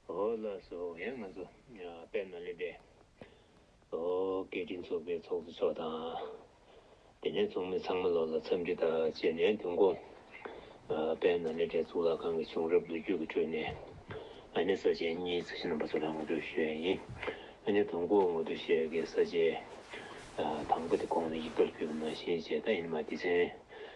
ཧོ་ལ་སོགས་པའི་ང་ཚོ་དཔལ་ནཱ་ལེནྡྲའི་སྐད་འཕྲིན་ཚོགས་པའི་ཚོགས་གཙོ་མཆོག་དང། དེ་ནས་ཚོགས་མི་ཚང་མ་ལོག་ལ་འཚམས་འདྲི་དང་བཅས་ནས་དུས་འགོ། དཔལ་ནཱ་ལེནྡྲའི་གཙུག་ལག་ཁང་གི་བྱུང་རབས་ལོ་རྒྱུས་ཀྱི་ཁྲོད་ནས། ཨ་ནེ་ས་བཅད་གཉིས་རྩིས་ཞིབ་རྣམ་པ་ཚོ་ལ་ངོ་སྤྲོད་ཞུ་ཡ་ཡིན། ཨ་ནེ་དང་པོ་ངོ་སྤྲོད་བྱེད་དགོས་ས་བཅད། དང་པོ་དེ་གོང་ནས་ཡིག་ཐོར་བསྒྱུར་ན་ཤེས་བྱས་ད་ཡིན་མ་དེ་ཚན་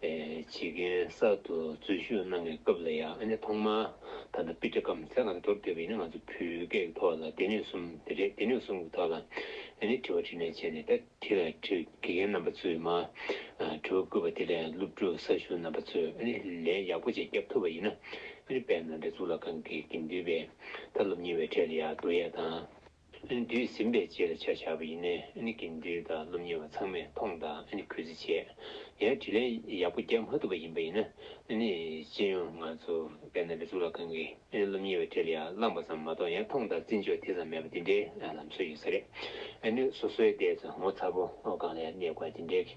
བྱེད་མཁན་གསར་དུ་འཛུལ་ཞུགས་གནང་བའི་སྐབས་ལ་ཡང་ཨ་ནེ་ཐོག་མར་ད་ལྟ་པི་ཏྲ་ཀམ་སེ་ལ་འདོར་འདོད་པའི་ཨ་ནེ་ང་ཚོ་བོད་སྐད་ཀྱི་ཐོག་ལ་སྡེ་སྣོད་གསུམ་དེ་རེད་སྡེ་སྣོད་གསུམ་གྱི་ཐོག་ལ་ཨ་ནེ་དྲི་བ་དྲིས་ལན་བྱས་ནས་ད་ཐི་ལ་དྲི་དགེ་རྒན་རྣམ་པ་ཚོས་མ་དྲི་བ་བསྐུལ་བ་དེ་ལས་སློབ་ཕྲུག་གསར་ཞུགས་རྣམ་པ་ཚོས་ཨ་ནེ་ལན་ཡག་པོ་བཅས་རྒྱབ་ཐུབ་པ་ཡིན་ན་ཨ་ནེ་དཔལ་ནཱ་ལེནྡྲ་གཙུག་ལག་ཁང་གི་དགེ་འདུན་པའི་ད་སློབ་གཉེར་བའི་གྲས་ལ་ཡང་བསྡུ་ཡས་དང། ཨེ་འདུས་ཟིན་པའི་རྗེས་ལ་བྱ་བྱ་བ་ཡིན་ནའི་ཨེ་གི་འདུས་དང་སློབ་གཉེར་བ་ཚང་མས་མཐོང་དང་ཨེ་གུས་བརྩི་བྱས། ཡང་དྲིས་ལན་ཡག་པོ་རྒྱག་མ་ཐུབ་པ་ཡིན་པ་ཡིན་ན་ཨེ་སྤྱི་ཡོངས་ང་ཚོ་བས་ན་རེ་ཚུགས་ལ་གང་གི་ཨེ་སློབ་གཉེར་བའི་གྲལ་ཡར་བླངས་པ་ཙམ་མ་གཏོགས་ཡང་མཐོང་དང་བརྩི་འཇོག་དེ་ཙམ་མེད་པ་འདི་འདྲའི་ལམ་སྲོལ་ཡོད་ས་རེད། ཨེ་སོ་སོའི་ལྟས་ཚོ་ངོ་ཚ་པོ་སྒང་ལ་ཡར་གནས་དགོས་པ་འདི་འདྲའི།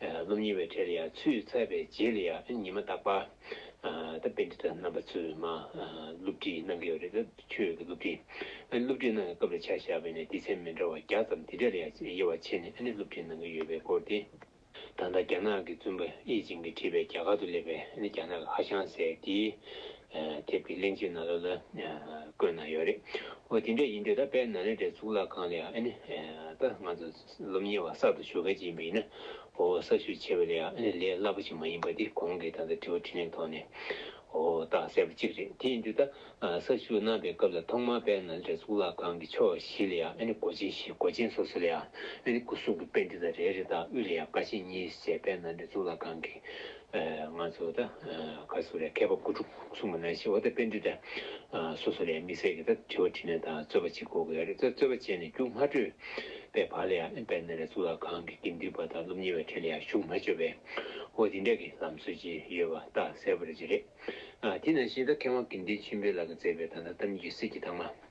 སློབ་གཉེར་བའི་གྲལ་ལ་ཡང་ཚུད་ཚར་བའི་རྗེས་ལ་ཡང་ཉི་མ་རྟག་པ་ད་དཔེ་འདི་དག་རྣམ་པ་ཚུལ་མ་སློབ་ཁྲིད་གནང་གི་ཡོད་རེད་ད་ཁྱོད་ཀྱི་སློབ་ཁྲིད་སློབ་ཁྲིད་གནང་གི་སྐབས་ལ་ཆ་བཞག་པས་ནས་སྡེ་ཚན་མི་འདྲ་བ་བརྒྱ་ཙམ་དེ་གྲལ་ལ་ཡང་དབྱེ་བ་ཕྱེ་ནས་སློབ་ཁྲིད་གནང་གི་ཡོད་པའི་སྐོར་དེ། ད་ལྟ་རྒྱ་ནག་གི་བཙུན་པ་ཨེ་ཅིན་གྱིས་བྲིས་པའི་རྒྱ་གར་དུ་སླེབས་པའི་རྒྱ་ནག་གི་ཧ་ཤང་ཟེར་དེའི་དེབ་ཀྱི་གླེང་བྱེད་ན་ལོ་ལ་བཀོད་གནང་ཡོད་རེད་འོ་དེ་འདྲ་ཡིན་དུས་ད་དཔལ་ནཱ་ལེནྡྲའི་གཙུག་ལག་ཁང་ལ་ཡང་ད་ང་ཚོ་སློབ་གཉེར་བ་གསར་དུ་བྱོལ་གལ་ཆེ་ཡིན་པ་ཡིན་ན་འོ་གསར་བྱོལ་ཆེ་བའི་ལས་ཨ་ནི་ལས་སླ་པོ་ཞིག་མ་ཡིན་པ་དེ་གོང་གི་ད་ལྟ་དྲི་བ་དྲིས་ལན་ཐོག་ནས་འོ་བཏགས་གསལ་པོ་གཅིག་རེད་དེ་ཡིན་དུས་ད་གསར་བྱོལ་གནང་པའི་སྐབས་ལ་ཐོག་མར་པད་ནཱ་ལེནྡྲའི་གཙུག་ལག་ཁང་གི་ཕྱོགས་བཞི་ལ་ཡང་ཨ་ནི་སྒོ་ཆེན་བཞི་སྒོ་ཆེན་སོ་སོ་ལ་ཡང་ཨ་ནི་སྐུ་གསུང་གི་དཔེ་འདི་དང་རེ་རེ་དང་དབུས་ལ་ཡང་བཀའ་ཆེན་གཉིས་བཅས་པད་ནཱ་ལེནྡྲའི་གཙུག་ལག་ཁང་གི་ང་ཚོ་ད་ག་ཟུར་ལས་མཁས་པ་དགུ་ཕྲུག་གསུམ་གྱི་ནང་ཤེས་བ་ད་དཔེ་འདི་འདྲ་སོ་སོ་ལས་དམིགས་བསལ་གྱི་ད་དྲི་བ་དྲིས་ནས་ད་རྩོད་པ་བྱེད་དགོས་གི་རེད་ད་རྩོད་པ་བྱས་ནས་རྒྱུགས་མ་སྤྲོད་པའི་བར་ལ་ཡང་དཔལ་ནཱ་ལེནྡྲ་གཙུག་ལག་ཁང་གི་དགེ་འདུན་པ་དང་སློབ་གཉེར་བའི་གྲས་ལ་ཡང་ཞུགས་མ་བྱོས་པའི་འོ་དེ་འདྲ་གི་ལམ་སྲོལ་ཅིག་ཡོད་པ་ད་གསལ་པོ་རེད་ཅི་རེད། དེ་ནང་བཞིན་ད་མཁས་དབང་དགེ་འདུན་ཆེན་པོའི་ལག་གི་མཛད་པའི་ད་ད་ལྟ་མི་རྒྱུད་སྲིད་ཀྱི་དྭངས་མ།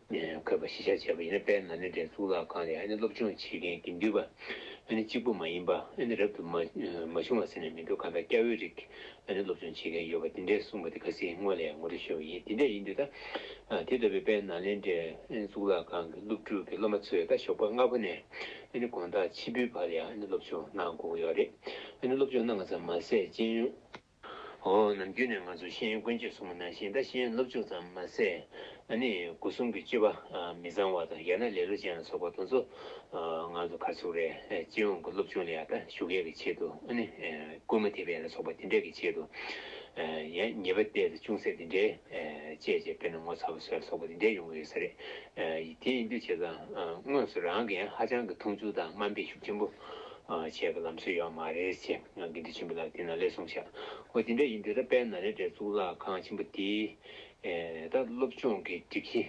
འཁོད་པ་གཞི་བཞག་བྱས་པ་ཡིན་ན་དཔལ་ནཱ་ལེནྡྲའི་གཙུག་ལག་ཁང་ལས་ཨ་ནི་སློབ་སྦྱོང་བྱེད་མཁན་དགེ་འདུན་པ་ཨ་ནི་གཅིག་པུ་མ་ཡིན་པ་ཨ་ནི་རབ་ཏུ་མ་བྱུང་བ་ཟེར་ནས་མི་འདུག་གང་ལྟར་སྐྱ་བོའི་རིགས་ཨ་ནི་སློབ་སྦྱོང་བྱེད་མཁན་ཡོད་པ་འདི་འདྲས་གསུངས་པ་དེ་ག་སྲིད་དངོས་ལས་ངོ་སྤྲོད་ཤོར་བ་ཡིན་དེ་འདྲས་ཡིན་དུས་ད་དེ་ལྟ་བུའི་དཔལ་ནཱ་ལེནྡྲའི་ཨ་ནི་གཙུག་ལག་ཁང་གི་སློབ་ཕྲུག་གི་སློབ་མ་ཚོས་ད་ཞོགས་པ་སྔ་པོ་ནས་ཨ་ནི་དགོང་དག་ཕྱི་པོའི་བར་ཡང་ཨ་ནི་སློབ་སྦྱོང་གནང་དགོས་ཀྱི་ཡོད་རེད་ཨ་ནི་སློབ་སྦྱོང་གནང་བ་ཙམ་མ་ཟད་སྤྱན་ཡོན། ཧོ། ནམ་རྒྱུན་ནས་ང་ཚོ་ཤེས་ཡོན་དཀོན་ཅོད་སོ་མོ་ནང་བཞིན་ད་ཤེས་ཡོན་སློབ་སྦྱོང་ཙམ་མ་ཟད། ཨ་ནི་སྒོ་གསུམ་གྱི་སྤྱོད་པ་མི་བཟང་བ་དང་ཡང་ན་ལེ་ལོ་ཅན་ལ་སོགས་པ་དང་ཚོ། ང་ཚོ་གར་ཚུགས་རེ་སྤྱི་ཡོངས་ཀྱི་སློབ་སྦྱོང་ལ་ཡང་ད་ཞུགས་མཁན་གྱི་ཆེད་དུ་ཨ་ནི་སྐུལ་མ་ཐེབས་པའི་ལ་སོགས་པ་དེ་འདྲས་ཀྱི་ཆེད་དུ། ཡང་ཉེས་པ་བལྟས་ཚེ་ཅུང་ཟད་དེ་འདྲས་དཔྱད་བྱས་དཔེར་ན་ངོ་ཚ་བ་ཟེར་བ་སོགས་པ་དེ་འདྲས་ཡོང་གི་ཡོད་ས་རེད། དེ་ཡིན་དུས་བྱས་ཙང་དངོས་སུ་རང་གིས་ཡང་ཧ་ཅང་གི་མཐོང་ཆུང་དང་དམའ་འབེབས་ཤུགས་ཆེན་པོ། བྱས་པའི་ལམ་སྲོལ་ཡོད་མ་རེད་ཅེས་ང་དགེ་འདུན་ཆེན་པོ་ལགས་དེ་ན་ལེ་གསུངས་བྱས། ཨོ་དེ་འདྲ་ཡིན་དུས་ད་དཔལ་ན་ལེ་འདྲའི་གཙུག་ལག་ཁང་ཆེན་པོ་དེ་ད་སློབ་སྦྱོང་གི་སྒྲིག་གཞི་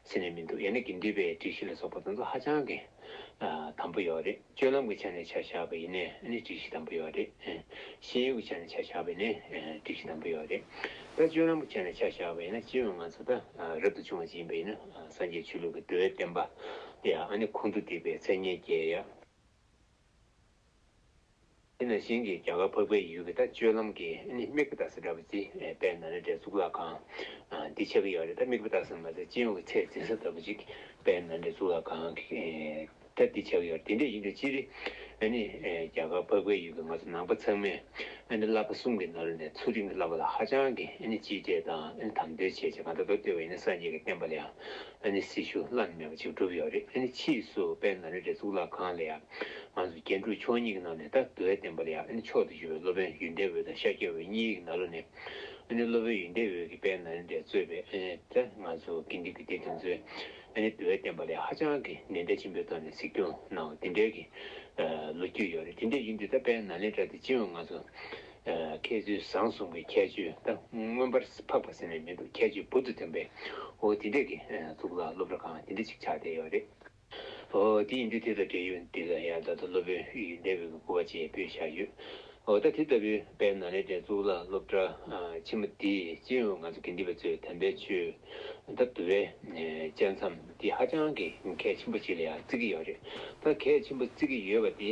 ཟེར་ནས་མི་འདུག་ཡང་ན་དགེ་འདུན་པའི་སྒྲིག་གཞི་ལ་སོགས་པ་དང་ཚོ་ཧ་ཅང་གི་དམ་པོ་ཡོད་རེད་སྤྱོད་ལམ་གྱི་ཆ་ནས་ཆ་བཞག་པ་ཡིན་ནས་ནི་སྒྲིག་གཞི་དམ་པོ་ཡོད་རེད། ཤེས་ཡོན་གྱི་ཆ་ནས་ཆ་བཞག་པས་ནི་སྒྲིག་གཞི་དམ་པོ་ཡོད་རེད། ད་སྤྱོད་ལམ་གྱི་ཆ་ནས་ཆ་བཞག་པ་ཡིན་ན་སྤྱི་ཡོངས་ང་ཚོ་ད་རབ་ཏུ་བྱུང་བ་ཅིག་ཡིན་པ་ཡིན་ན་སངས་རྒྱས་ཆོས་ལུགས་ཀྱི་འགྲོ་བའི་བསྟན་པ་དེ་ཡང་ཨ་ནི་ཁོང་དུ་བསྡིགས་པའི་མཚན་སྙན་རྒྱས་ཡོད། དེ་ནས་གཞན་གྱིས་རྒྱ་གར་འཕགས་པའི་ཡུལ་གྱི་ད་སྤྱོད་ལམ་གྱི་དམིགས་པ་བཏགས་སེ་ར་བ་ཙི་པའི་ན་རེ་འདྲའི་གཙུག་ལག་ཁང། འདི་ཆགས་ཀྱི་ཡོད་རེད་ད་དམིགས་པ་བཏགས་སེ་མ་ཟད་སྤྱི་ཡོངས་ཀྱི་ཚད་འཛིན་ས་ལྟ་བུ་ཅིག་པའི་ན་རེ་གཙུག་ལག་ཁང་གིས་ད་འདི་ཆགས་ཀྱི་ཡོད་རེད་དེ་འདྲས་ཡིན་དུས་སྤྱིར་རྒྱ་གར་འཕགས་པའི་ཡུལ་གྱི་ང་ཚོ་ནང་པ་ཚང་མས་བསླབ་པ་གསུམ་གྱི་ནང་ནས་ཚུལ་ཁྲིམས་ཀྱི་བསླབ་པ་ལ་ཧ་ཅང་གིས་གཅེས་སྤྲས་དང་དམ་དོན་ཆེ་ཆེ་གང་ལྟར་མདོ་སྟོད་བའི་སངས་རྒྱས་ཀྱི་བསྟན་པ་ལ་ཡང་ཨ་ནི་སྲི་ཞུ་བླ་ན་མེད་པ་ཅིག་བསྒྲུབས་ཡོད་རེད་ཨ་ནི་ཕྱིས་སུ་དཔལ་ན་རེ་འདྲའི་གཙུག་ལག་ཁང་ལ་ཡང་ང་ཚོ་རྒྱན་དྲུག་མཆོག་གཉིས་ཀྱི་ནང་ནས་ད་དུ་ཨའི་བསྟན་པ་ལ་ཡང་ཨ་ནི་མཆོག་ཏུ་གྱུར་བའི་སློབ་དཔོན་ཡུན་འདས་འོད་དང་ཤཱཀྱ་འོད་གཉིས་ཀྱི་ནང་ལོ་ནས་ཨ་ནི་སློབ་དཔོན་ཡུན་འདས་འོད་ཀྱིས་དཔལ་ན་རེ་འདྲའི་གཙོས་པའི་ཨ་ནི་ད་ང་ཚོ་དགེ་འདུན་གྱི་སྡེ་དེ་ཚོས་ཨ་ནི་དུ་ཨའི་བསྟན་པ་ལ་ཧ་ཅང་གི་ནན་ཏན་ཆེན་པོའི་ཐོག་ནས་གཟིགས་སྐྱོང་གནང་བ་དེ་འདྲའི་གི་ལོ་རྒྱུས་ཡོད་རེད་དེ་འདྲའི་ཡུལ་འདི་ད་དཔལ་ན་རེ་འདྲ་དེ་སྤྱི་ཡོངས་ང་ཚོ་ཁྱད་ཆོས་བཟང་གསུང་གི་ཁྱད་ཆོས་ད་མངོན་པར་འཕགས་པ་ཟེར་ནས་མི་འདུག་ཁྱད་ཆོས་བོད་དུ་ཐོན་པའི་འོ་དེ་འདྲ་གི་གཙུག་ལག་སློབ་ར་གང་དེ་འདྲ་ཅིག་ཆགས་བསྡད་ཡོད་རེད། འོ་དེ་ཡིན་དུས་དེ་དང་འབྲེལ་ཡོད་འདི་ལ་ཡང་ད་ལྟ་སློབ་དཔོན་ཨི་ཡི་འདས་པོའི་གི་སྐུ་བ་ཅེས་པོད་བཞག་ཡོད། འོ་ད་དེ་ལྟ་བུའི་པའི་ནང་ལས་དེ་གཙུག་ལག་སློབ་གྲྭ་ཆེན་མོ་དེས་སྤྱི་ཡོངས་ང་ཚོ་དགེ་འདུན་པ་ཚོས་དམ་པའི་ཆོས། ད་དུ་བའི་བཅད་མཚམས་འདི་ཧ་ཅང་གི་གལ་ཆེན་པོ་ཞིག་ལ་ཡང་བརྩི་གི་ཡོད་རེད། ད་གལ་ཆེན་པོ་བརྩི་གི་ཡོད་པ་འདི་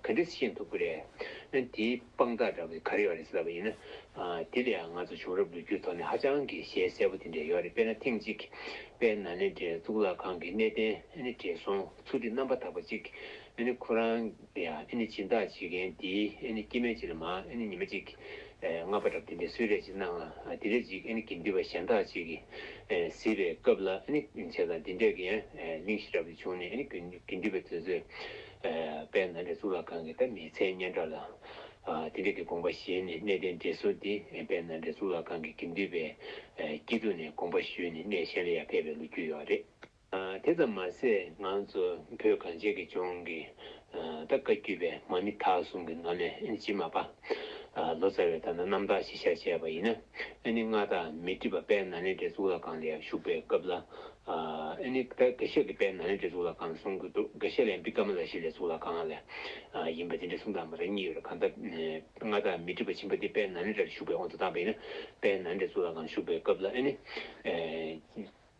ག་འདྲ་ཤེས་ཐུབ་ཀི་རེད། དེའི་དཔང་རྟགས་འདྲ་བོ་ག་རེ་བ་རེད་ཟེར་བ་ཡིན་ན། དེ་ལས་ང་ཚོ་བྱུང་རབས་ལོ་རྒྱུས་ཐོག་ནས་ཧ་ཅང་གི་ཞལ་གསལ་པོ་དེ་འདྲ་ཡོད་རེད་དཔེར་ན་ཐེངས་གཅིག་པད་ན་ནས་གཙུག་ལག་ཁང་གི་གནས་བརྟན་བྲིས་སོང་ཚུལ་གྱི་རྣམ་པ་དག་པ་ཅིག་ཁོ་རང་དེ་ཡང་ཨེ་ནི་སྦྱིན་བདག་བྱེད་མཁན་འདིས་ཨེ་ནི་སྐྱེ་མེད་ཅིག་ལ་མ་ཨེ་ནི་ཉི་མ་ཅིག། ལྔ་པ་དགྲ་བདེན་པས་སུས་རེ་ཅིག་གནང་ལ་དེ་རེ་ཅིག་ཨེ་ནི་དགེ་འདུན་པ་གཞན་དག་ཅིག་གིས་གཟིགས་པའི་སྐབས་ལ་ཨེ་ནི་བྱས་དང་དེ་འདྲས་ཀྱི་ཡང་གླིང་ཤེས་རབ་ཏུ་བྱུང་ནས་ཨེ་ནི་དགེ་འདུན་པའི་དོན་རྩོད་པས་ན་འདྲ་གཙུག་ལག་ཁང་གི་ད་མི་ཚད་སྙན་གྲགས་ལ་དེ་འདྲས་ཀྱི་དགོངས་པ་བཞེས་ནས་གནས་བརྟན་འབྲེལ་གསོལ་འདི་པས་ན་འདྲ་གཙུག་ལག་ཁང་གི་དགེ་འདུན་པའི་སྐྱིད་སྡུག་ནས་དགོངས་པ་ཞུས་ནས་གནས་གཞན་ལ་ཡང་ཕེབས་པའི་ལོ་རྒྱུས་ཡོད་རེད། དེ་ཙམ་མ་ཟད་ང་ཚོ་བོད་གངས་ཅན་གྱི་ལྗོངས་ཀྱི་ད་བཀའ་བརྒྱུད་པའི་མ་མི་དག་གསུམ་གྱི་ནང་ནས་ཇི་མ་པ་ལོ་ཙཱ་བས་ད་ནི་རྣམ་དག་ཞི་ཤར་བྱས་པ་ཡིན་ན་ཨ་ནི་མངའ་བདག་མི་ཏྲི་པ་པད་ན་ལེན་བྲེ་གཙུག་ལག་ཁང་ལ་ཡང་བཞུགས་པའི་སྐབས་ལ་ཨ་ནི་ད་དགེ་བཤེས་ཀྱི་པད་ན་ལེན་བྲེ་གཙུག་ལག་ཁང་གསུང་གི་འདུག་དགེ་བཤེས་ལན་པི་ཀ་མ་ལ་ཤཱི་ལེ་གཙུག་ལག་ཁང་ལ་ཡིན་པ་དེ་འདྲའི་གསུང་དང་མ་རེག་གཉིས་ཡོད་རེད་གང་ལྟར་མངའ་བདག་མི་ཏྲི་པ་ཆེན་པོ་དེ་པད་ན་ལེན་བྲེ་ལ་བཞུགས་པའི་དབང་དུ་བཏང་པ་ཡིན་ན་པད་ན་ལེན་བྲེ་གཙུག་ལག་ཁང་བཞུགས་པའི་སྐབས་ལ་ཨ་ནི།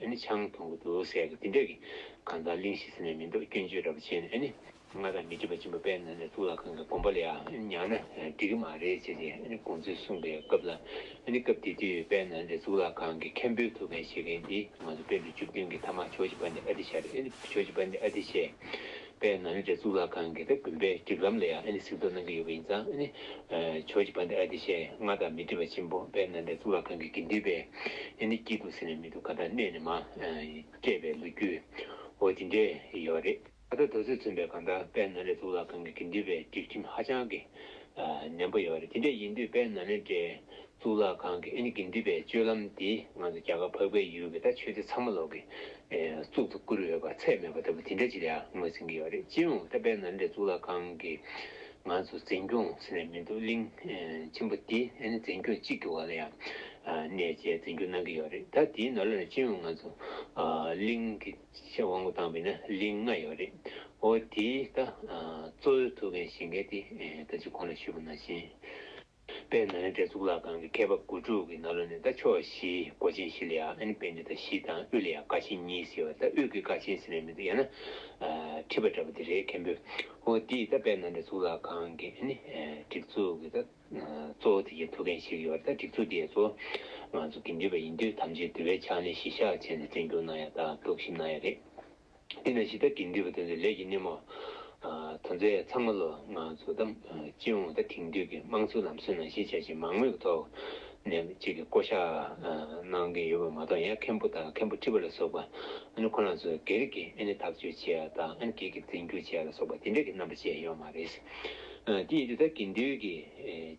ཨེ་ནི་ཆང་འཐུང་གི་འདུག་ཟེར་གི་དེ་འདྲ་གི། གང་ལྟར་གླིང་བཞི་ཟེར་ནས་མི་འདུག་སྐྱོན་བརྗོད་འདྲ་པོ་བྱས་ནས་ཨེ་ནི། ང་དང་མི་སྒྲིབ་པ་སྦྱིན་པ་དཔལ་ནཱ་ལེནྡྲའི་གཙུག་ལག་ཁང་གི་དགོན་པ་ལ་ཡང་ཉང་ན་འགྲིག་གི་མ་རེད་ཅེས་ཨེ་ནི་དགོངས་ཚུལ་གསུངས་པའི་སྐབས་ལ་ཨེ་ནི་སྐབས་དེ་དུས་དཔལ་ནཱ་ལེནྡྲའི་གཙུག་ལག་ཁང་གི་མཁན་པོའི་ཐུགས་འགན་བཞེས་མཁན་དེ་ང་ཚོ་དཔལ་འབྲུག་བཅུ་བདུན་གྱི་ཐ་མ་ཆོས་རྗེ་པཎྜི་ཨ་ཏི་ཤྲཱི་རེད་ཨེ་ནི་ཆོས་རྗེ་པཎྜི་ཨ་ཏི་ཤྲཱི་པའི་ནང་རྒྱ་གཙུག་ལག་ཁང་གི་དགོན་པའི་སྒྲིག་ལམ་ལ་ཡང་ཨ་ནི་གཟིགས་རྟོག་གནང་གི་ཡོད་པ་ཡིན་ཙང་ཨ་ནི་ཆོས་ཀྱི་བ་འདི་ཨ་ཏི་ཤའི་མངའ་བདག་མི་ཏྲི་བ་ཆེན་པོ་པའི་ནང་རྒྱ་གཙུག་ལག་ཁང་གི་དགེ་འདུན་པས་ཨ་ནི་སྐྱིད་འདུག་ཟེར་ནས་མི་འདུག་ག་ད་གནས་ནས་མ་སྤྲད་པའི་ལོ་རྒྱུས་འོ་དེ་འདྲས་ཡོད་པ་རེད། ད་ལྟ་རྡོ་སོལ་མཚོན་པའི་གང་དག་པའི་ནང་རྒྱ་གཙུག་ལག་ཁང་གི་དགེ་འདུན་པའི་སྒྲིག་ཁྲིམས་ཧ་ཅང་གི་ནན་པོ་ཡོད་པ་རེད་དེ་འདྲས་ཡིན་དུས་པའི་ནང་ནས་འདྲས་གཙུག་ལག་ཁང་གི་ཨེ་ནི་དགེ་འདུན་པའི་སྤྱོད་ལམ་འདི་ང་ཚོ་རྒྱ་གར་འཕགས་པའི་ཡུལ་གྱི་ད་ཆོས་སྡེ་ཚང་མ་ལོག་གི་གཙུག་ཏུ་བཀུར་འོས་པ་ཚད་མེད་པ་ལྟ་བུ་དེ་འདྲ་ཅིག་ལ་ངོས་ཟིན་གྱི་ཡོད་རེད་སྤྱིར་འོང་ད་པའི་ན་འདྲེ་གཙུག་ལག་ཁང་གི་ང་ཚོ་འཛིན་སྐྱོང་ཟེར་ནས་མི་འདུག་གླིང་ཆེན་པོ་འདི་ཨེ་ནི་འཛིན་སྐྱོང་གཅིག་གི་བར་ལ་ཡང་གནས་བཅས་འཛིན་སྐྱོང་གནང་གི་ཡོད་རེད་ད་དེའི་ནོར་ལ་ནི་སྤྱིར་འོང་ང་ཚོ་གླིང་གི་ཆེས་དབང་པོ་དང་བའི་ན་གླིང་ལྔ་ཡོད་རེད་འོ་དེའི་ད་གཙོ་བོའི་ཐུགས་འགན་བཞེས་མཁན་དེ་ད་ཅི་གོང་ལ་ཞུས་པ་ནང་བཞིན། པའི་ནཱ་ལེནྡྲའི་གཙུག་ལག་ཁང་གི་ཁ་བབས་དགུ་ཕྲུག་གི་ནཱ་ལོ་ནི་ད་ཕྱོགས་བཞི་སྒོ་ཆེན་བཞི་ལ་ཡང་ཨནི་པནྡི་ཏ་བཞི་དང་དབུས་ལ་ཡང་ཀ་ཆེན་གཉིས་ཟེར་བ་ད་དབུས་ཀྱི་ཀ་ཆེན་ཟེར་ནས་མི་འདུག་ཡང་ན། བྲིས་པ་འདྲ་པོ་དེ་རེད་མཁན་པོ་ཨོ་འདིས་ད་པའི་ནཱ་ལེནྡྲའི་གཙུག་ལག་ཁང་གི་ཨནི་སྒྲིག་འཛུགས་ཀྱི་ད་གཙོ་བོ་དེ་བཞིན་ཐུགས་མཁན་ཞིག་ཡོད་པ་ད་སྒྲིག་འཛུགས་དེའི་གཙོ་བོ་ང་ཚོ་དགེ་འདུན་པ་ཡིན་དུས་ཐམས་ཅད་འདུལ་བའི་ཕྱག་ལེན་གཞི་བཞག་བྱས་ནས་བསྟེན་སྐྱོང་གནང་ཡ་ད་གདུགས་ཞིབ་གནང་ཡ་རེད། དེ་ནས་ཞི་དག་གིས་འདུལ་བ་དོན་དུ་ལས་ཀྱི་སྣེ་མོ། དོན་མཛད་ཚང་མ་ལོ་ང་ཚོ་དང་སྤྱི་ཡོངས་ད་ཐེངས་དུས་ཀྱི་དམངས་གཙོའི་ལམ་སྲོལ་ནང་ཤེས་བྱ་ཆེས་མང་མོས་ཀྱི་ཐོག་ནས་གཅིག་གིས་བསྐོ་བཞག་གནང་གི་ཡོད་པ་མ་གཏོགས་ཡང་མཁན་པོ་དང་མཁན་པོ་ཁྲི་པ་ལ་སོགས་པ་ཁོ་ན་ཚོས་སྒེར་གྱིས་ཐག་གཅོད་བྱས་ཡ་དང་སྒེར་གྱིས་འཛིན་སྐྱོང་བྱས་ཡ་ལ་སོགས་པ་དེ་འདྲ་གྱི་རྣམ་པ་བཅས་ཡོད་མ་རེད། དེ་ཡིན་དུས་ད་གིན་དུས་ཀྱི་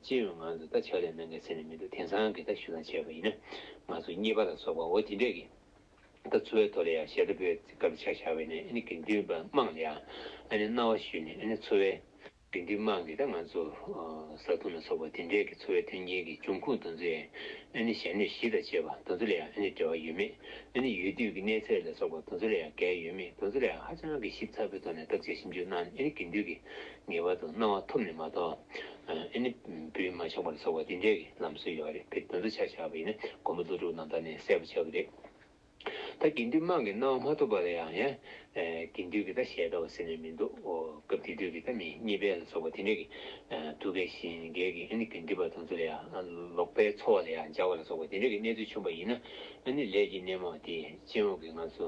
སྤྱི་ཡོངས་ང་ཚོ་ད་ཕྱག་ལས་གནང་གི་ཟེར་ནས་མི་འདུག་དེང་སང་གི་ད་ཞུ་ལང་བྱས་པ་ཡིན་ན་ང་ཚོ་གཉིས་པ་ལ་སོགས་པའོ་དེ་འདྲས་ཀྱི། ད་ཚོ་བའི་ཐོག་ལ་ཡང་ཞེ་ད་པོའི་ཚིག་སྐབས་ཆ་བཞག་བས་ནི་ཨ་ནི་དགེ་འདུན་པ་དམངས་ལ་ཡང་ཨ་ནི་རྣ་བ་ཞུས་ནས་ཨ་ནི་ཚོ་བའི་དགེ་འདུན་དམངས་ཀྱིས་ད་ང་ཚོ་བཟའ་བཏུང་ལ་སོགས་པ་དེ་འབྲེལ་གྱི་ཚོ་བའི་མཐུན་རྐྱེན་གྱི་འབྱུང་ཁུངས་དང་ཚོའི་ཨ་ནི་ཞལ་ནུས་གཞི་དང་བཅས་པ་དང་ཚོ་ལ་ཡང་ཨ་ནི་འབྲེལ་བ་ཡོད་མེད་ཨ་ནི་ཡུལ་དུས་ཀྱི་གནས་ཚད་ལ་སོགས་པ་དང་ཚོ་ལ་ཡང་འགལ་ཡོད་མེད་དང་ཚོ་ལ་ཡང་ཧ་ཅང་གི་ཞིབ་ཚགས་པོའི་ཐོག་ནས་བརྡབ་བྱ་ཞིབ་འཇུག་གནང་ནས་ཨ་ནི་དགེ་འདུན་གྱི་ངེས་པར་དུ་སྣང་བ་ཐོབ་ནས་མ་གཏོགས་ཨེ་ནི་བུས་མ་ཆགས་པར་ཟོག་པ་འདི་འདྲའི་ལམ་སྲོལ་ཡོད་པ་རེད་བེད་སྤྱོད་བྱ་བཞག་པ་ཡིན་ན་མགོན་པོ་ཀླུ་སྒྲུབ་རྣམས་ད་ནས་གསལ་པོ་བྱ་གི་རེད། ད་དགེ་འདུན་དམངས་ཀྱི་སྣང་བ་མ་ཐོབ་པ་ལ་ཡང་ཡང་དགེ་འདུན་གྱི་ད་ཞལ་ལྟ་བ་ཟེར་ནས་མི་འདུག་སྐབས་དེ་དུས་ཀྱི་ད་མི་གཉིས་པའི་ལ་སོགས་པ་དེ་འདྲའི་གི་ཐུགས་ཁས་བཞིན་འགལ་གི་ཨེ་ནི་དགེ་འདུན་པ་དང་ཚུར་ལ་ཡང་ལོག་པའི་འཚོ་བ་ལ་ཡང་འཇགས་པ་ལ་སོགས་པ་དེ་འདྲའི་གི་གནས་ཚུལ་བྱུང་པ་ཡིན་ན་ཨེ་ནི་ལས་ཀྱི་སྣེ་མོ་དེ་སྤྱི་འོག་གི་ང་ཚོ་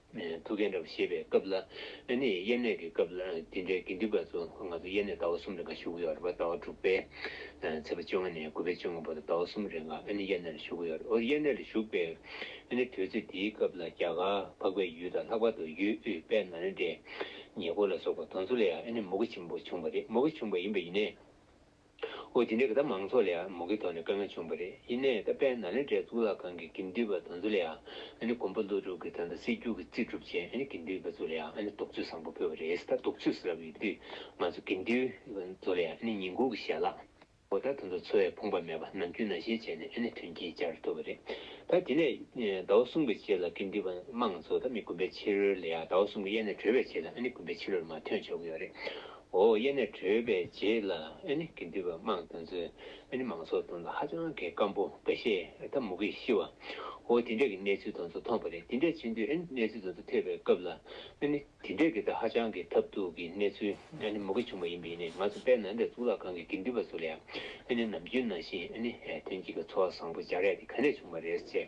ཐུགས་འགན་འདྲ་བ་བཞེས་པའི་སྐབས་ལ་ནི་དབྱེར་གནས་ཀྱི་སྐབས་ལ་དེ་འདྲའི་དགེ་འདུན་པ་ཚོ་ང་ཚོ་དབྱེར་གནས་ཟླ་བ་གསུམ་རེ་འགའ་བཞུགས་ཀྱི་ཡོད་རེད་བ་ཟླ་བ་དྲུག་པའི་ཚེས་པ་བཅོ་ལྔ་ནས་དགུ་པའི་བཅོ་ལྔ་བར་དུ་ཟླ་བ་གསུམ་རེ་འགའ་དབྱེར་གནས་ལ་བཞུགས་ཀྱི་ཡོད་རེད་དབྱེར་གནས་ལ་བཞུགས་པའི་དུས་ཚོད་དེའི་སྐབས་ལ་རྒྱ་གར་འཕགས་པའི་ཡུལ་དང་ལྷག་པར་དུ་ཡུལ་དབུས་དཔལ་ནཱ་ལེནྡྲའི་ཉེ་འཁོར་ལ་སོགས་པ་དོན་གཙོ་ལ་ཡང་དབྱེར་གནས་མུ་གེ་ཆེན་པོ་བྱུང་བ་རེད་མུ་གེ་བྱུང་བ་ཡིན་པ་ཡིན་ནས། ཨོ་དེ་འདྲའི་གི་ད་མང་ཚོགས་ལ་ཡ་མོ་གི་ཐོག་ནས་དཀའ་ངལ་བྱུང་བ་རེད་ཡིན་ནའི་ད་དཔལ་ན་ལེནྡྲའི་གཙུག་ལག་ཁང་གི་གིམ་འདུས་པ་དང་ཚོ་ལ་ཡ་ནི་གོམ་པ་ཀླུ་སྒྲུབ་གི་ད་ད་སྲིད་སྒྱུར་གི་རྩིས་སྒྲུབ་ཅན་ཡ་ནི་གིམ་འདུས་པ་ཚོ་ལ་ཡ་ནི་དུག་ཚོད་བཟང་པོ་ཕུལ་བ་རེད་ད་དུག་ཚོད་ཟེར་བ་ཡོད་དུས་ང་ཚོ་གིམ་འདུས་པ་ཚོ་ལ་ཡ་ནི་ཉིན་གུང་གི་ཞལ་ལག། ཨོ་ད་ད་ཚོ་ཚོ་ཡ་ཕོངས་པ་མེད་པ་ནམ་རྒྱུན་ན་ཞེས་བྱས་ནས་ཡ་ནི་ཐོན་སྐྱེད་བྱར་ཐུབ་བ་རེད་ད་དེ་ལས་ད་བ་གསུམ་གི་ཆེད་ལ་གིམ་འདུས་པ་དམངས་ཚོ་ད་མི་དགུན་པའི་ཕྱི་རོལ་ལ་ཡ་ད་བ་གསུམ་གི་ཡ་ནི་བྲོས་པའི་ཆེད་ལ་ཡ་ནི་དགུན་པའི་ཕྱི་རོལ་ལ་མ་ཐོན་ཆོག་གི་ཡོད་རེད། འོ་ཡེ་ནས་བྲོས་པའི་རྗེས་ལ་ཨེ་ནི་དགེ་འདུན་པ་དམངས་དང་ཚོས་ཨེ་ནི་མང་ཚོགས་དང་ལ་ཧ་ཅང་གི་སྐམ་པོ་འགའ་ཤས་ཨེ་ད་མུ་གེ་ཤི་བ་འོ་དེ་འདྲས་ཀྱི་གནས་ཚུལ་དང་ཚོ་མཐོང་པ་རེད་དེ་འདྲས་ཕྱིན་དུས་ཨེ་ནི་གནས་ཚུལ་དང་ཚོ་ཐོས་པའི་སྐབས་ལ་ཨེ་ནི་དེ་འདྲས་ཀྱི་ད་ཧ་ཅང་གི་ཐབས་སྡུག་གི་གནས་ཚུལ་ཨེ་ནི་མུ་གེ་བྱུང་པ་ཡིན་པས་ནི་ང་ཚོ་དཔལ་ནཱ་ལེནྡྲ་གཙུག་ལག་ཁང་གི་དགེ་འདུན་པ་ཚོ་ལ་ཡང་ཨེ་ནི་ནམ་རྒྱུན་ནང་བཞིན་ཨེ་ནི་དོན་གྱི་གི་འཚོ་བ་བཟང་པོ་སྦྱར་ཡ་དེ་ག་ནས་བྱུང་བ་རེད་ཅེས་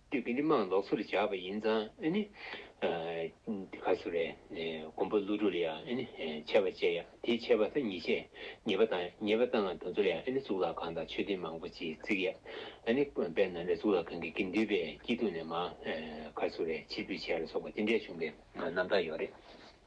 དུས་ཀྱི་མི་མང་ལོགས་སུ་བཞག་པ་ཡིན་ཙང་ནི། དེ་ག་སུ་རེད། མགོན་པོ་ཀླུ་སྒྲུབ་ལ་ཡང་ཆད་པ་བཅད་ཡ། དེའི་ཆད་པ་ད་ཉིས་བཅད། ཉེས་པ་དང་ཉེས་པ་བཏང་ང་དུ་ཚོར་ཡང་གཙུག་ལག་ཁང་དང་མཆོད་རྟེན་མང་པོ་ཅིག་བརྩིགས་ཡ། དཔེར་ན་རེ་གཙུག་ལག་ཁང་གི་དགེ་འདུན་པའི་སྐྱིད་སྡུག་ནས་མ། ག་སུ་རེད་ཕྱིར་འབུད་བྱས་ལ་སོགས་པ་དེ་འདྲའི་བྱུང་པའི་རྣམ་ཐར་ཡོད་རེད།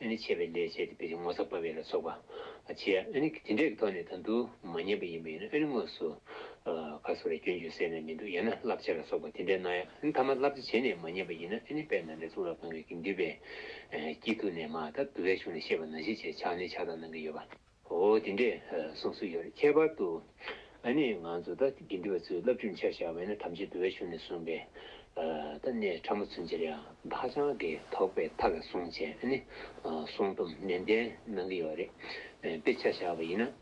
ཨ་ནི་ཆད་པའི་ལས་བྱས་ཏེ་བས་ཏེ་ངོ་ཚ་བ་བས་ལ་སོགས་པ། བྱས་ཨ་ནི་དེ་འདྲའི་ཐོག་ནས་དང་དུ་མ་ཉམས་པ་ཡིན་པ་ཡིན་ན་ཨ་ནི་དངོས་སུ། ཁ་སོ་རའི་སྐྱོན་བརྗོད་སད་ནས་མི་འདུག་ཡང་ན་བསླབ་བྱ་ལ་སོགས་པ་དེ་འདྲའི་སྣང་ཡང་ཨ་ནི་ཐ་མ་བསླབ་བྱ་བྱས་ནས་མ་ཉམས་པ་ཡིན་ན་ཨ་ནི་པས་ན་འདྲེ་གཙུག་ལག་ཁང་གི་གིང་བདུད་པས། དཀྱིལ་དུ་ནས་མ་ད་དུ་བས་ཕྱུང་ནས་ཤེས་པ་ན་བཞི་བྱས་ཕྱག་ནི་ཕྱག་དང་ནང་གི་ཡོད་པ། ཨོ་དེ་འདྲས་གསུང་སྲོལ་ཡོད་རེད་ཁྱད་པར་དུ་ཨ་ནེ་ང་ཚོ་ད་དགེ་འདུན་པ་ཚོས་བསླབ་བྱུས་འཆར་བཞག་བས་ན་ཐམས་ཅད་བོད་པའི་གཞུང་ནས་གསུངས་པས་ད་གནས་ཕྲ་མོ་ཚུན་ཆར་ཡང་ད་ཆང་གི་དོགས་པའི་མཐའ་ལ་གསུང་བྱས་ཨ་ནེ་གསུང་རྩོམ་ནན་ཏན་གནང་གི་ཡོད་རེད་དཔེ་ཆ་བཞག་པ་ཡིན་ན།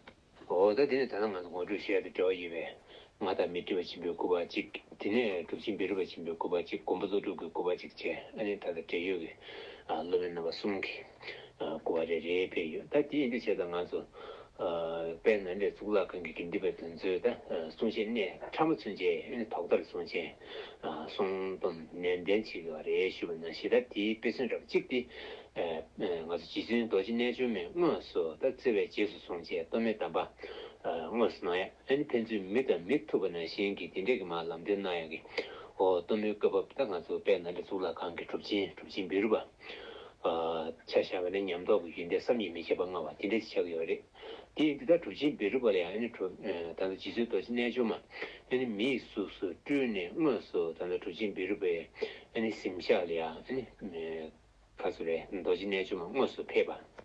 ཨོ་ད་དེ་ནི་ད་ལྟ་ང་ཚོ་ངོ་སྤྲོད་བྱས་པའི་འབྲེལ་བ་ཡིན་པས་ང་དང་མི་སྒྲིབ་པ་ཆེན་པོའི་སྐུ་བ་གཅིག། དེ་ནས་སྒྲུབ་ཆེན་བེ་རུ་པ་ཆེན་པོའི་སྐུ་བ་གཅིག་མགོན་པོ་ཚོགས་དྲུག་གི་སྐུ་བ་གཅིག་བཅས་ཨ་ནེ་ད་ལྟ་འབྲེལ་ཡོད་ཀྱི་སློབ་མའི་རྣམ་པ་གསུམ་གྱི་སྐུ་བ་རེ་རེའི་དཔེ་ཡོད་ད་དེའི་འདུ་བྱེད་དང་ང་ཚོ་དཔལ་ནཱ་ལེནྡྲའི་གཙུག་ལག་ཁང་གི་དགེ་འདུན་པའི་དོན་གཙོའི་ད་གསུང་བཤད་གནས་ཕྲ་མོ་ཚུན་ཆད་ཐོག་ཐར་གསུང་ཆེན་གསུང་སྡོམ་ནན་ཏན་བྱེད་དགོས་པ་རེ་ཞུ་བ་ན་ཞེ་ད་དེའི་དཔེ་མཚོན་རབ་གཅིག་སྟེ། ང་ཚོ་རྗེ་བཙུན་རྡོ་རྗེ་རྣལ་འབྱོར་མས་དངོས་སུ་ད་བརྩེ་བས་རྗེས་སུ་བཟུང་བཅས་གཏོར་མའི་གདམས་པ་དངོས་སུ་གནང་ཡ། ཨ་ནི་ཕན་ཚུན་མི་དང་མི་ཐུག་པ་ན་གཞན་གྱིས་དེ་འདྲས་ཀྱི་མ་ལམ་སྟོན་གནང་ཡོང་གི། ཨོ། གཏུམ་མོའི་བཀའ་བབས་ད་ང་ཚོ་དཔལ་ནཱ་ལེ་གཙུག་ལག་ཁང་གི་གྲུབ་ཆེན་གྲུབ་ཆེན་བེ་རུ་པ། ཆ་བཞག་པ་ནས་ཉམས་རྟོགས་ཀྱི་ཡོན་ཏན་བསམ་ཡིད་མི་ཁྱབ་པ་མངའ་བ་དེ་འདྲས་ཅིག་ཆགས་ཀྱི་ཡོད་རེད། དེ་འདི་ལྟར་གྲུབ་ཆེན་བེ་རུ་པ་ལ་ཡང་ཨ་ནི་གྲུབ། ད་ལྟ་རྗེ་བཙུན་རྡོ་རྗེ་རྣལ་འབྱོར་མ་ཨ་ནི་མིའི་གཟུགས་སུ་སྤྲུལ་ནས་དངོས་སུ་ད་ལྟ་གྲུབ་ཆེན་བེ་རུ་པའི་ཨ་ནི་གཟིམ་ཤག་ལ་ཡང་ཨ་ནི། ག་ཚོད་རེད་རྡོ་རྗེ་རྣལ་འབྱོར་མ་དངོས་སུ་ཕེབས་པ།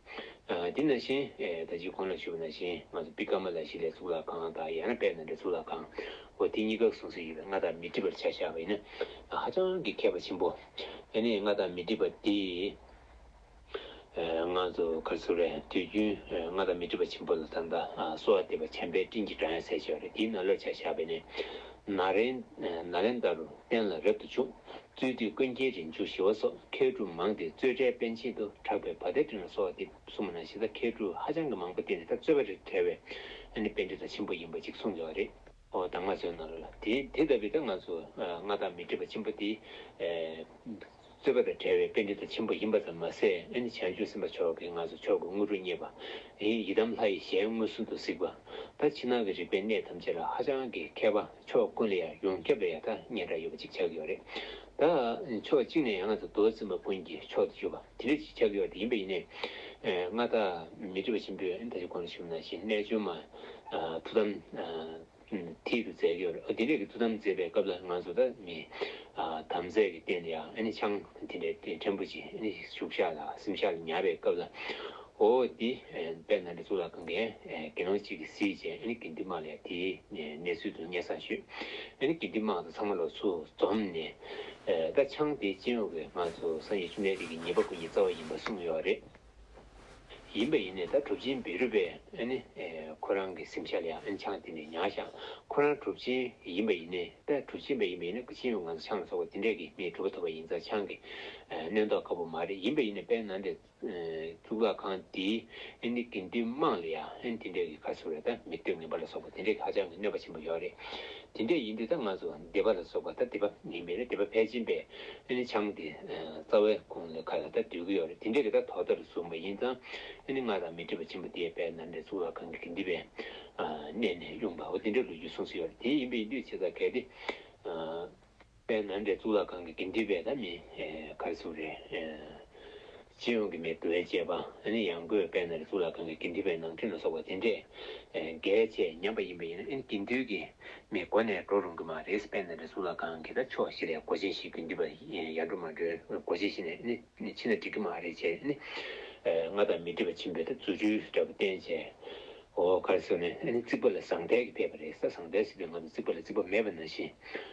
འདི་ན་བཞིན། ད་ཅི་གོང་ན་ཆུད་པ་ན་བཞིན་ང་ཚོ་པི་ཀ་མ་ལ་ཤི་ལས་ཚུགས་ལ་གང་དང་ཡང་ན་པད་ན་འདྲ་ཚུགས་ལ་གང། འོ་དེ་གཉིས་ཀ་གསུངས་སྲོལ་ཡོད་པས་སྔ་དག་མི་འགྲིག་པར་བྱ་བཞག་པ་ཡིན་ན། ཧ་ཅང་གི་མཁས་པ་ཆེན་པོ། དེ་ནས་སྔ་དག་མི་འགྲིག་པ་འདི། ང་ཚོ་གར་ཚུགས་རེད་དུས་རྒྱུན་སྔ་དག་མི་འགྲིག་པ་ཆེན་པོ་ལ་ད་ལྟ་སོ་བ་འདེབས་པ་བྱམས་པའི་སྤྲིན་གྱི་སྒྲ་ཡང་ཟེར་བྱས་པ་རེད་འདིའི་ན་ལོས་བྱ་བཞག་པས་ནི། ན་རེ་ན་ལེན་ད་རུ་གཏན་ལ་རབ་ཏུ་བཅུག་གཙོས་དུས་ཀུན་མཁྱེན་རིང་འཇུག་ཞི་བ་སོགས་མཁས་གྲུབ་མང་སྟེ་གཙོས་འཕྲལ་དཔལ་ཆེན་དུ་གྲགས་པའི་བ་དན་ཁྲི་ན་སོགས་ཏེ་སྲུང་མ་ན་ཤི་དང་མཁས་གྲུབ་ཧ་ཅང་གི་མང་པོ་བསྟེན་ཏེ་ད་གཙོས་བ་རིར་གྲལ་བས་ཨ་ནི་དཔལ་འབྲི་ཐ་ཆེན་པོ་ཡིན་པ་གཅིག་གསུངས་ཡོད་བ་རེད། ཨོ་ད་ང་ཚོའི་ནང་ལ་ལ་དེ་དེ་ལྟ་བུའི་ཏེ་ང་ཚོ་མངའ་བདག་མི་སྒྲིབ་པ་ཆེན་པོ་དེ་གཙོས་བ་དང་བྲལ་བའི་དཔལ་འབྲི་ཐ་ཆེན་པོ་ཡིན་པ་ཙམ་མ་ཟད་ཨ་ནི་བྱང་ཆུབ་སེམས་དཔའ་མཆོག་གིས་ང་ཚོ་མཆོག་གི་དངོས་གྲུབ་བརྙེས་པ་ཡི་དམ་ལྷ་ཡི་ཞལ་མངོན་སུམ་དུ་གཟིགས་པ་ད་ཕྱི་ནང་གི་རིག་པའི་གནས་ཐམས་ཅད་ལ་ཧ་ཅང་གི་མཁས་པ། ཕྱོགས་ཀུན་ལ་ཡང་ཡོངས་ཁྱབ་ལ་ཡང་ཐག་ཉེ་འདྲ་ཡོད་པ་གཅིག་ཆགས་ཀྱི་ཡོད་རེད། ད་ཕྱོགས་གཅིག་ནས་ཡང་ང་ཚོ་རྡོ་རྩིག་མ་ཀུན་གྱི་ཕྱོགས་དེ་བརྗོད་པ་དེ་འདྲ་གཅིག་ཆགས་ཀྱི་ཡོད་དེ་ཡིན་པས་ཡིན་ནའི། སྔར་དག་མི་དྲི་བ་ཆེན་པོས་ད་ཅི་གོ་ན་ཞུ་ན་ཞེས་རྣལ་འབྱོར་མ་ཐུགས་དམ་མཐིལ་དུ་མཛད་ཀྱི་ཡོད་རེད། དེ་འདྲ་གི་ཐུགས་དམ་མཛད་པའི་སྐབས་ལ་ང་ཚོ་དག་མི་དམ་རྫས་ཀྱི་སྟེང་དུ་ཡང་ཆང་དེ་འདྲ་ཕྲན་བུ་ཅིག་བཞུགས་ཤག་ལ་སིམ་ཤག་ལ་ཉར་བའི་སྐབས་ལ། ཧོ། དེ་པས་ན་འདི་ཚོ་ལ་གང་གི་དགེ་སློང་གཅིག་གིས་གཟིགས་ཅིང་ཨེ་ནི་གིན་ཏི་མ་ལས་དེའི་གནས་ཚུལ་དུ་སྙན་བསངས་ཞུས། ཨེ་ནི་གིན་ཏི་མ་དང་ཚང་མ་ལོ་ཚོད་འཛོམས་ནས། ཀ་ཆང་དེའི་སྤྱན་འོག་གི་ང་ཚོ་སང་ཉིན་ཆུ་སྣའི་རིགས་ཀྱི་ཉིན་པ་ཀུན་གྱི་རྩ་བ་ཡིན་པར་གསུངས་ཡོད་རེད། ཡིན་པ་ཡིན་ནས་ད་གྲུབ་ཆེན་བེ་རུ་པས་ཨེ་ནི་ཁོ་རང་གི་སེམས་ཤར་ལ་ཨེ་ནི་ཆང་དེ་ནས་མྱངས་ཤག་ཁོ་རང་གྲུབ་ཆེན་ཡིན་པ་ཡིན་ནས་ད་གྲུབ་ཆེན་པ་ཡིན་པ་ཡིན་ན་ཀ་ཆེན་འོག་ང་ཚོ་ཆང་ལ་སོགས་པ་དེ་འདྲས་ཀྱིས་མིའི་གྲུབ་པ་ཐོབ་པ་ཡིན་ཙང་ཆང་གི་གནོན་རྟོག་དཀའ་པོ་མ་རེད་ཡིན་པ་ཡིན་ནས་པས་ན་འདི། གཙུག་ལག་ཁང་འདི་ཨན་ནི་དགེ་འདུན་དམངས་ལ་ཡང་ཨན་དེ་འདྲ་གི་ཁ་ཟུར་རེ་ད་མི་སྟོད་ངན་པ་ལ་སོགས་པ་དེ་འདྲ་གི་ཧ་ཅང་གི་གནོད་པ་ཆེན་པོ་ཡོད་རེད་དེ་འདྲ་ཡིན་དུས་ད་ང་ཚོ་སྡེ་པ་ལ་སོགས་པ་ད་སྡེ་པ་མིན་པས་རེད་སྡེ་པ་ཕལ་ཆེན་པས་ཨན་ནི་ཆང་དེ་རྩ་བའི་ཁུང་ལས་ཁ་ལ་ད་སྡོད་གི་ཡོད་རེད་དེ་འདྲ་གི་ད་དོ་ཟླ་རུ་བཟུང་བ་ཡིན་ཙང་ཨན་ནི་ང་དང་མི་འདྲེས་པ་ཆེན་པོ་དེ་པས་ན་འདྲེ་གཙུག་ལག་ཁང་གི་དགེ་འདུན་པས་གནས་ནས་དབྱུང་པའོ་དེ་འདྲ་ལོ་རྒྱུས་གསུངས་སུ་ཡོད་རེད་དེ་ཡིན་པས་ཡིན་དུས་ཆེ་ས་གལ་ཏེ། པའི་ནང་འདྲེ་གཙུག་ལག་ཁང་གི་དགེ་འདུན་པའི་ད་མི་གར་ཚུགས་རེ་སྤྱི་ཡོངས་ཀྱི་མི་དགོས་ཅེས་པ་ནི་ཡང་སྒོས་དཔལ་ནཱ་ལེ་གཙུག་ལག་ཁང་གི་དགེ་འདུན་པའི་ནང་ཁྲོལ་ན་སོགས་པ་དེ་འདྲས་འགལ་བཅས་ཉམས་པ་ཡིན་པས་ཡིན་ན་ཨིན་དགེ་འདུན་གྱི་མི་སྒོ་ནས་འགྲོ་རུང་གི་མ་རེད་དཔལ་ནཱ་ལེ་གཙུག་ལག་ཁང་གི་ད་ཕྱོགས་བཞི་ལས་སྒོ་ཆེན་བཞི་དགེ་འདུན་པ་ཡར་འགྲོ་མར་འགྲོའི་སྒོ་ཆེན་བཞི་ནས་ནི་ཕྱིན་ན་འགྲིག་གི་མ་རེད་ཅེས་ནི་སྔར་དང་མི་འདྲེས་པ་བྱིན་པའི་ད་རྫུ་འཕྲུལ་འདྲ་པོ་བསྟན་ཅེས་འོ་གར་ཚུགས་ནས་ནི་རྩིག་པ་ལ་ཟངས་ཐལ་གྱིས་བསྟད་པ་རེད་ས་ཟངས་ཐལ་སྲིད་པའི་ངང་དུ་རྩིག་པ་ལ་རྩིག་པ་མེད་པ་ན་བཞིན་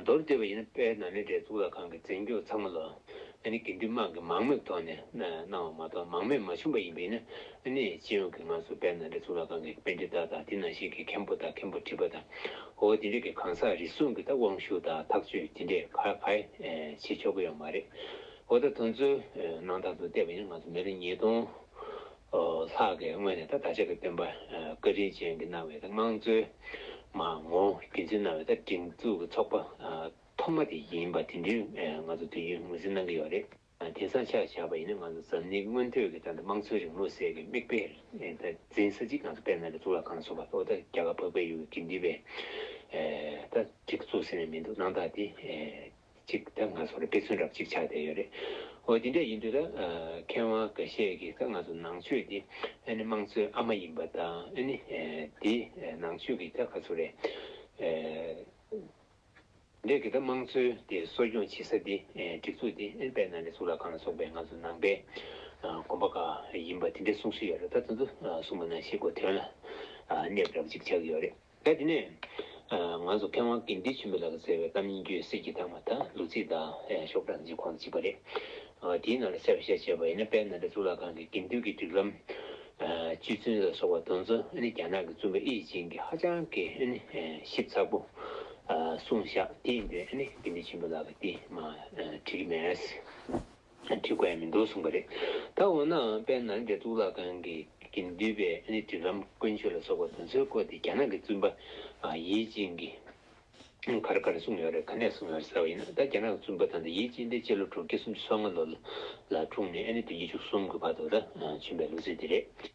མདོར་བསྡུས་པ་ཡིན་ན་དཔལ་ནཱ་ལེནྡྲའི་གཙུག་ལག་ཁང་གི་རྩིག་མཇུག་ཚང་མ་ལ་ཨ་ནི་དགེ་འདུན་དམངས་ཀྱིས་མང་མོས་ཐོག་ནས་གནང་བ་མ་གཏོགས་མང་མོས་མ་བྱུང་པ་ཡིན་པས་ན་ཨ་ནི་སྤྱི་ཡོངས་ཀྱི་ང་ཚོ་དཔལ་ནཱ་ལེནྡྲའི་གཙུག་ལག་ཁང་གི་དཔེ་འབྲི་བདག་དང་དེ་ནང་བཞིན་གྱི་མཁན་པོ་དང་མཁན་པོ་བྲིས་པ་དང་ཨོ་དེ་འདྲ་གི་གང་ཟག་རེ་ཟུང་གི་ད་དབང་ཤུགས་དང་ཐག་གཅོད་དེ་འདྲས་ག་ག་བྱེད་ཆོག་གི་ཡོད་མ་རེད། འོ་ད་དོན་གཙོའི་གནང་སྟངས་དུ་བལྟས་པ་ཡིན་ན་ང་ཚོ་མི་ལོ་ཉིས་སྟོང། ལྷག་གིས་སྔོན་ནས་ད་བདག་ཅག་གི་སྟོན་པ་བཀའ་དྲིན་ཅན་གྱིས་གནང་བའི་ད་དངངས་རྩོད། མ་ངོ་རྒྱུན་འཛིན་གནང་བའི་ད་སྒྲིག་འཛུགས་ཀྱི་ཚོགས་པ་ཐོག་མ་དེ་ཡིན་པ་དེ་འདྲིར་ང་ཚོ་དུས་རྒྱུན་ངོས་འཛིན་གནང་གི་ཡོད་རེད། དེང་སང་ཆ་བཞག་པ་ཡིན་ན་ང་ཚོ་འཛམ་གླིང་སྔོན་ཐོས་ཀྱི་ད་ད་དམངས་གཙོའི་རིང་ལུགས་ཟེར་གྱི་མིག་དཔེ་ད་འཛིན་ས་གཅིག་ང་ཚོ་དཔལ་ནཱ་ལེནྡྲ་གཙུག་ལག་ཁང་གསུངས་པ་ལྟ་བུ་ད་རྒྱ་གར་འཕགས་པའི་ཡུལ་གྱི་དགེ་འདུན་པའི་ད་སྒྲིག་འཛུགས་ཟེར་ནས་མི་འདུག་གནང་སྟངས་དེ་གཅིག་ད་ང་ཚོར་དཔེ་མཚོན་རབ་གཅིག་ཆགས་བསྡད་ཡོད་རེད་འོ་དེ་འདྲ་ཡིན་དུས་ད་མཁས་དབང་འགའ་ཤས་ཀྱིས་ད་ང་ཚོ་ནང་ཆོས་འདི་ཨ་ནི་དམངས་གཙོའི་ཨ་མ་ཡིན་པ་དང་ཨ་ནི་འདི་ནང་ཆོས་ཀྱི་ད་ག་ཚོད་རེད། འདས་ཀྱི་ད་དམངས་གཙོའི་དེ་གསོ་སྐྱོང་བྱེད་ས་འདི་སྒྲིག་འཛུགས་འདི་ཨ་ནི་དཔལ་ནཱ་ལེནྡྲའི་གཙུག་ལག་ཁང་ལ་སོགས་པའི་ང་ཚོ་ནང་པའི་དགོན་པ་འགའ་ཡིན་པ་དེ་འདྲའི་གསུང་སྲོལ་ཡོད་རེད་ད་ད་དུ་གསུང་པ་ན་ཤེས་དགོས་དོན་ལ་གནས་རབ་གཅིག་ཆགས་ཀྱི་ཡོད་རེད། ད་དེ་ནས། ང་ཚོ་མཁས་དབང་དགེ་འདུན་ཆེན་པོ་ལགས་ཟེར་བའི་གཏམ་རྙིང་ཁྱོད་སེར་གྱིས་བཏགས་མ་ཐག་ལུག་རྫིས་དག་ཤོག་སྦྲ་འཛིན་ཁོང་གཅིག་པ་རེད། དེའི་ནང་ལ་གསལ་བོ་བཤད་བྱས་པ་ཡིན་ན་དཔལ་ནཱ་ལེནྡྲ་གཙུག་ལག་ཁང་གི་དགེ་འདུན་གྱི་སྒྲིག་ལམ། བཅུད་བཙུན་ལ་སོགས་པ་དོན་གཙོ་ནི་རྒྱ་ནག་གི་བཙུན་པ་དབྱི་ཡི་ཅིང་གིས་ཧ་ཅང་གི་ཞིབ་ཚགས་པོ་གསུངས་བཞག་དེའི་མདུན་དགེ་འདུན་ཆེན་པོ་ལགས་ཀྱིས་དེ་མ་བྲིས་མེད། ཁྲི་བཀོད་ཡ་མི་འདུག་གསུངས་པ་རེད། ད་འོ་ནའང་དཔལ་ནཱ་ལེནྡྲའི་གཙུག་ལག་ཁང་གི་གིང་བསྡུས་པའི་ཨནི་དྲི་རམ་དཀོན་མཆོག་ལ་སོགས་པ་དེ་ཚོའི་སྐོར་དེ་རྒྱ་ནག་གི་བཙུན་པ་ཡེ་ཅིན་གྱིས་གར་གར་གསུངས་ཡོད་རེད་ག་ནས་གསུངས་ཡོད་ཟེར་བ་ཡིན་ན་ད་རྒྱ་ནག་གི་བཙུན་པ་དང་དེ་ཡེ་ཅིན་དེ་སྤྱི་ལོ་དྲུག་བརྒྱ་སུམ་ཅུ་སོ་ལྔ་ལོ་ལ་འཁྲུངས་ནས་ཨནི་དུས་བརྒྱད་ཅུ་གསུམ་གྱི་བར་དུ་ད་བྱོན་པའི་ལོ་ཚིགས་དེ་རེད།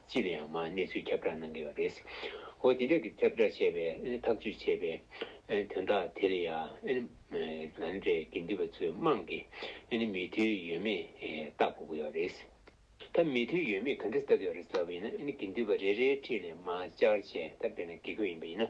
ཅི་ལ་ཡང་མ་གནས་ཚུལ་ཁྱབ་བསྒྲགས་གནང་གི་ཡོད་རེད། ཨོ་དེ་འདྲ་གི་ཁྱབ་བསྒྲགས་བྱས་པའི་ཐག་གཅོད་བྱས་པའི་དོན་དག་དེ་ལ་ཡང་ང་འདྲའི་དགེ་འདུན་པ་ཚོའི་དམངས་ཀྱི་མོས་མཐུན་ཡོད་མེད་བལྟ་དགོས་ཀྱི་ཡོད་རེད། ད་མོས་མཐུན་ཡོད་མེད་ག་འདྲ་བལྟ་གི་ཡོད་རེད་ཟེར་བ་ཡིན་ན་དགེ་འདུན་པ་རེ་རེའི་འཁྲིས་ལས་མ་བཅར་བྱས་ད་དཔེར་ན་དགེ་སྐོས་ཡིན་པ་ཡིན་ན་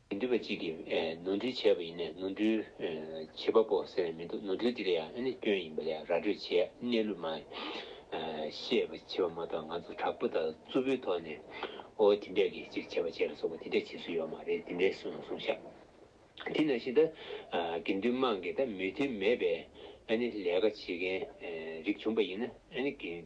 མི་འདུལ་བ་གཅིག་གིས་ནོར་འཁྲུལ་བྱས་པ་ཡིན་ནས་ནོར་འཁྲུལ་བྱེད་པ་པོ་ཟེར་མི་འདུག་ནོར་འཁྲུལ་དེ་ལ་ཡང་ཨ་ནི་སྐྱོན་ཡིན་པ་ལས་ར་སྤྲོད་བྱེད་གནས་ལུགས་མ་ཤེས་པ་བྱེད་པ་མ་གཏོགས་ང་ཚོ་དྲག་པོ་དང་རྩུབ་པོའི་ཐོག་ནས་ཨོ་དེ་འདྲས་ཀྱིས་ཅིག་བྱས་པ་བྱས་ལ་སོགས་པ་དེ་འདྲས་བྱེད་སྲོལ་ཡོད་མ་རེད་དེ་འདྲས་གསུངས་གསུངས་ཤག་དེ་ནང་བཞིན་ད་དགེ་འདུན་དམངས་ཀྱི་ད་མོས་མཐུན་མེད་པའི་ཨ་ནི་ལས་ཀ་བྱེད་མཁན་རིགས་བྱུང་པ་ཡིན་ན་ཨ་ནི་དགེ།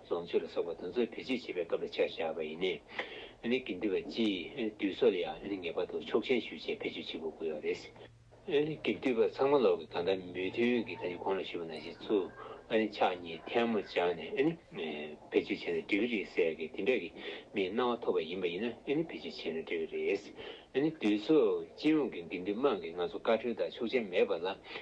བཟང་སྤྱོད་ལ་སོགས་པ་དོན་གཙོ་བོས་བེད་སྤྱོད་བྱེད་པའི་སྐབས་ལ་ཆ་བཞག་པ་ཡིན། ནས་ཀྱི་འདུལ་བ་སྤྱིའི་འདུལ་སོགས་ལ་ཡང་ངེས་པར་དུ་ཆོག་མཆན་ཞུ་ཆེད་བེད་སྤྱོད་བྱེད་དགོས་དགོས་པ་རེད། ནས་ཀྱི་འདུལ་བ་ཚང་མ་ལོག་གི་གང་དག་མོས་མཐུན་གྱི་ཐ་སྙད་གོང་ལ་ཞུས་པ་ནང་བཞིན་ཚུར་ཕྱག་གཉིས་ཐལ་མོ་སྦྱར་ནས་བེད་སྤྱོད་བྱས་ན་འགྲིག་གི་རེད་ཟེར་གི་དེ་འདྲ་གི་མིའི་སྣང་བ་ཐོབ་པ་ཡིན་པ་ཡིན་ན་བེད་སྤྱོད་བྱས་ན་འགྲིག་གི་རེད། ནས་འདུལ་སོགས་སྤྱི་ཡོངས་ཀྱི་འགན་འདུལ་དམངས་ཀྱིས་ང་ཚོ་བཀའ་ཁྲོལ་དང་ཆོག་མཆན་མེད་པ་ལ